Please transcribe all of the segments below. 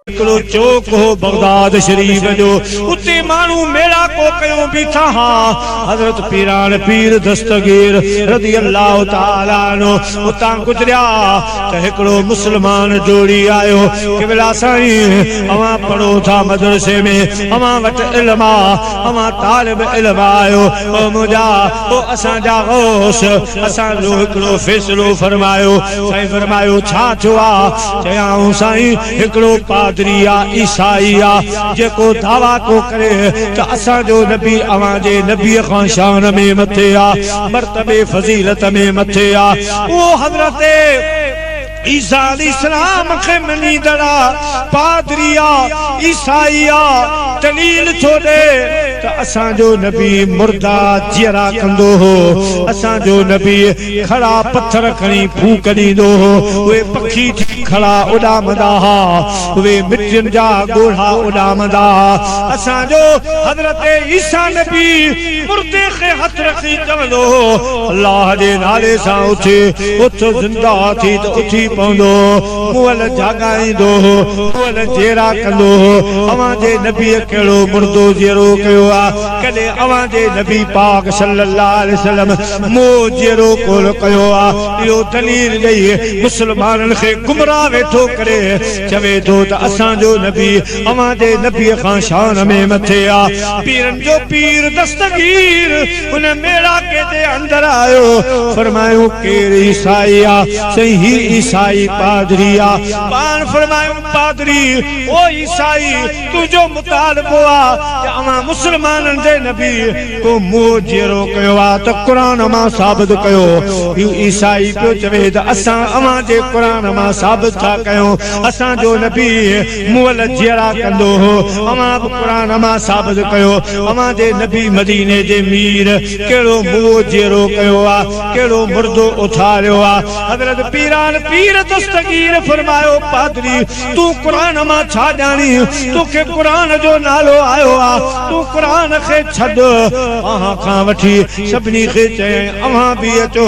هڪڙو چوڪ هو بغداد شريف جو اتي ماڻهو ميڙاڪو ڪيو بيٺا ها حضرت پيراڻ پير دستگير رضي الله تعالي عنه اتان گذريا ته هڪڙو مسلمان ڊوڙي آيو قبلا سائين اوهان پڙهو ٿا مدرسي ۾ اوهان وٽ علم آ اوهان طالب علم آهيو او منهنجا او اسان جا غوث اسان جو هڪڙو فيصلو فرمايو. سائين فرمايو ڇا ٿيو آ؟ چيائون سائين هڪڙو پادري آ عيسائي آ جيڪو دعويٰ ٿو ڪري ته اسان جو نبي اوهان جي نبي کان شان ۾ مٿي آ مرتبي فضيلت ۾ مٿي آ اهو حضرت عيسيٰ عليه السلام کي مڃيندڙ پادري يا عيسائي اها دليل ٿو ڏئي ته اسان جو نبي مردا جيئرا ڪندو هو، اسان جو نبي ڪھڙا پٿر کڻي ڦوڪ ڏيندو هو، اهي پکي ٿي ڪھڙا اڏامندا ها، اهي مٽين جا ڳوڙها اڏامندا ها، اسان جو حضرت عيسيٰ نبي. مردي کي هٿ رکي چوندو هو الله جي نالي سان اٿ اٿ زنده ٿي ته اٿي پوندو مئل جاڳائيندو هو مئل جيئرا ڪندو هو اوهان جي نبي ڪهڙو مردو جيئرو ڪيو آ ڪڏهن اوهان جي نبي پاڪ صلي الله عليه وسلم مئو جيئرو ڪول ڪيو آ اهو دليل ڏئي مسلمانن کي گمراهه ويٺو ڪري چوي ٿو ته اسان جو نبي اوهان جي نبيء کان شان ۾ مٿي آ. پيرن جو پير دستگير ان ميڙاڪي جي اندر آيو. فرمايائون، ڪير عيسائي آ؟ چيائين، هي عيسائي پادري آ. پاڻ فرمايائون، پادري! او عيسائي! تنهنجو مطالبو آ ته اوهان مسلمانن جي نبيء ڪو موئو جيئرو ڪيو آ ته قرآن مان ثابت ڪيو. هي عيسائي پيو چوي ته اسان اوهان جي قرآن مان ثابت ٿا ڪيون، اسان جو نبي. مئل جيئرا ڪندو هو اوهان به قرآن امان ثابت ڪيو اوهان جي نبي مديني جي مير ڪهڙو موئو جيئرو ڪيو آ ڪهڙو مردو اٿاريو آ حضرت پيران پير دستگير فرمايو پادري تون قرآن امان ڇا ڄاڻي تو کي قرآن جو نالو آيو آ تون قرآن کي ڇڏ اوهان کان وٺي سڀني کي چيائين اوهان به اچو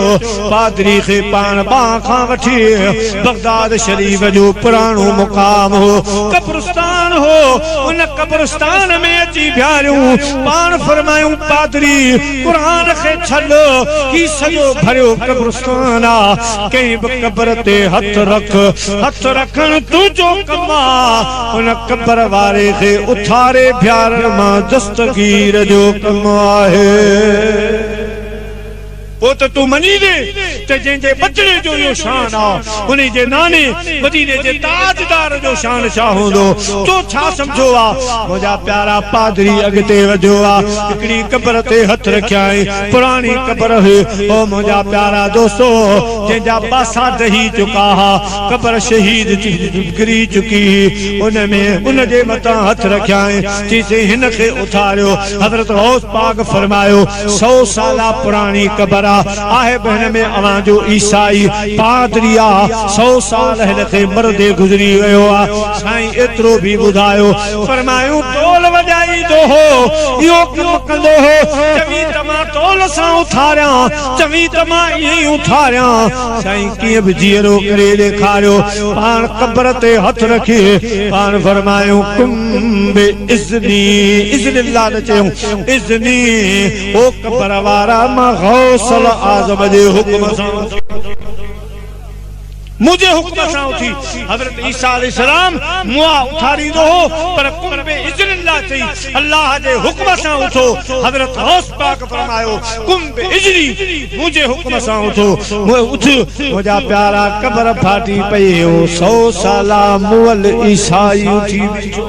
پادري کي پاڻ ٻانهن کان وٺي بغداد شريف جو پراڻو مقام هو قبرستان هو ان قبرستان ۾ اچي بيهاريون پاڻ فرمايون پادري قرآن کي ڇڏ هي سڄو ڀريو قبرستان آ ڪنهن به قبر تي هٿ رک هٿ رکڻ تنهنجو ڪم آ ان قبر واري کي اٿاري بيهارڻ مان دستگير جو ڪم آهي. پوء ته تون مڃيندين ته جنهن جي ٻچڙي جو اهو شان آ، انهي جي ناني مديني جي تاجدار جو شان ڇا هوندو؟ تو ڇا سمجهيو آ؟ منهنجا پيارا پادري اڳتي وڌيو آ، هڪڙي قبر تي هٿ رکيائين، پراڻي قبر هئي. او منهنجا پيارا دوستو! جنهن جا پاسا ڊهي چڪا ها، قبر شهيد ڪري چڪي هئي، ان ۾ ان جي مٿان هٿ رکيائين، چيسين هن کي اٿاريو. حضرت غوث پاڪ فرمايو. سو سالا پراڻي قبر آ آهي به هن ۾ اوهان جو عيسائي پادري آ سو سال هن کي مردي گذري ويو آ سائين ايترو به ٻڌايو فرمايون ٽول وڄائيندو هو اهو ڪم ڪندو هو چوين ته مان ٽول سان اٿاريان چوين ته مان ائين ئي اٿاريان سائين ڪيئن به جيئرو ڪري ڏيکاريو پاڻ قبر تي هٿ رکي پاڻ فرمايون قم باذني اذن الله نه چيون اذني او قبر وارا مان غوث الاعظم جي حڪم سان اٿي منهنجي حڪم سان اٿي حضرت عيسيٰ عليه السلام مئا اٿاريندو هو پر ڪن به اذن الله چئي الله جي حڪم سان اٿو حضرت غوث پاڪ فرمايو ڪن به اذني منهنجي حڪم سان اٿو مئو اٿيو منهنجا پيارا قبر ڦاٽي پئي هو سو سالا مئل عيسائي اٿي بيٺو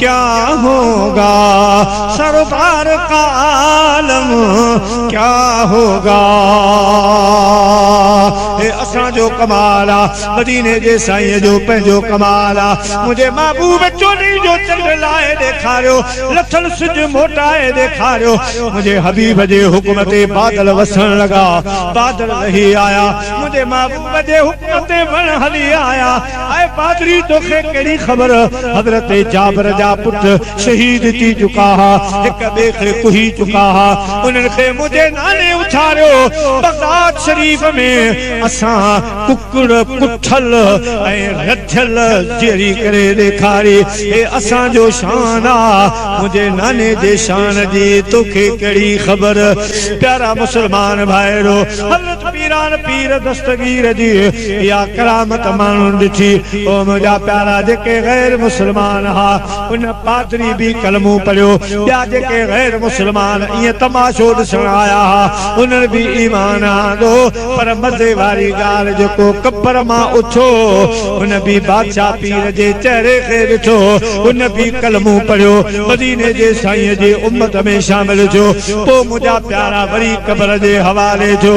ڪيا هوگا سرڪار ڪا عالم ڪيا هوگا هي اسان جو ڪمال آ مديني جي سائين جو پنهنجو ڪمال آ منهنجي محبوب چوڏهين جو چنڊ لاهي ڏيکاريو لٿل سج موٽائي ڏيکاريو منهنجي حبيب جي حڪم تي بادل وسڻ لڳا بادل لهي آيا منهنجي محبوب جي حڪم تي وڻ هلي آيا آء پادري توکي ڪهڙي خبر. حضرت جابر جا پٽ شهيد ٿي چڪا ها، هڪ ٻئي کي ڪهي چڪا ها، انهن کي منهنجي ناني اٿاريو. بغداد شريف ۾ اسان ڪڪڙ ڪٺل ۽ رڌيل جيئري ڪري ڏيکاري، هي اسان جو شان آ، منهنجي ناني جي شان جي توکي ڪهڙي خبر. پيارا مسلمان ڀائرو! سلط پيران پير دستگير جي اها ڪرامت ماڻهن ڏٺي. او منهنجا پيارا! جيڪي غير مسلمان ها، ان پادري به ڪلمو پڙهيو. ٻيا جيڪي غير مسلمان ائين تماشو ڏسڻ آيا ها، انهن به ايمان آندو. پر مزي واري ڳالهه جيڪو قبر مان اٿيو، ان به بادشاهه پير جي چهري کي ڏٺو. ان به ڪلمو پڙهيو. مديني جي سائينء جي امت ۾ شامل ٿيو. پوء منهنجا. پيارا وري قبر جي حوالي جو.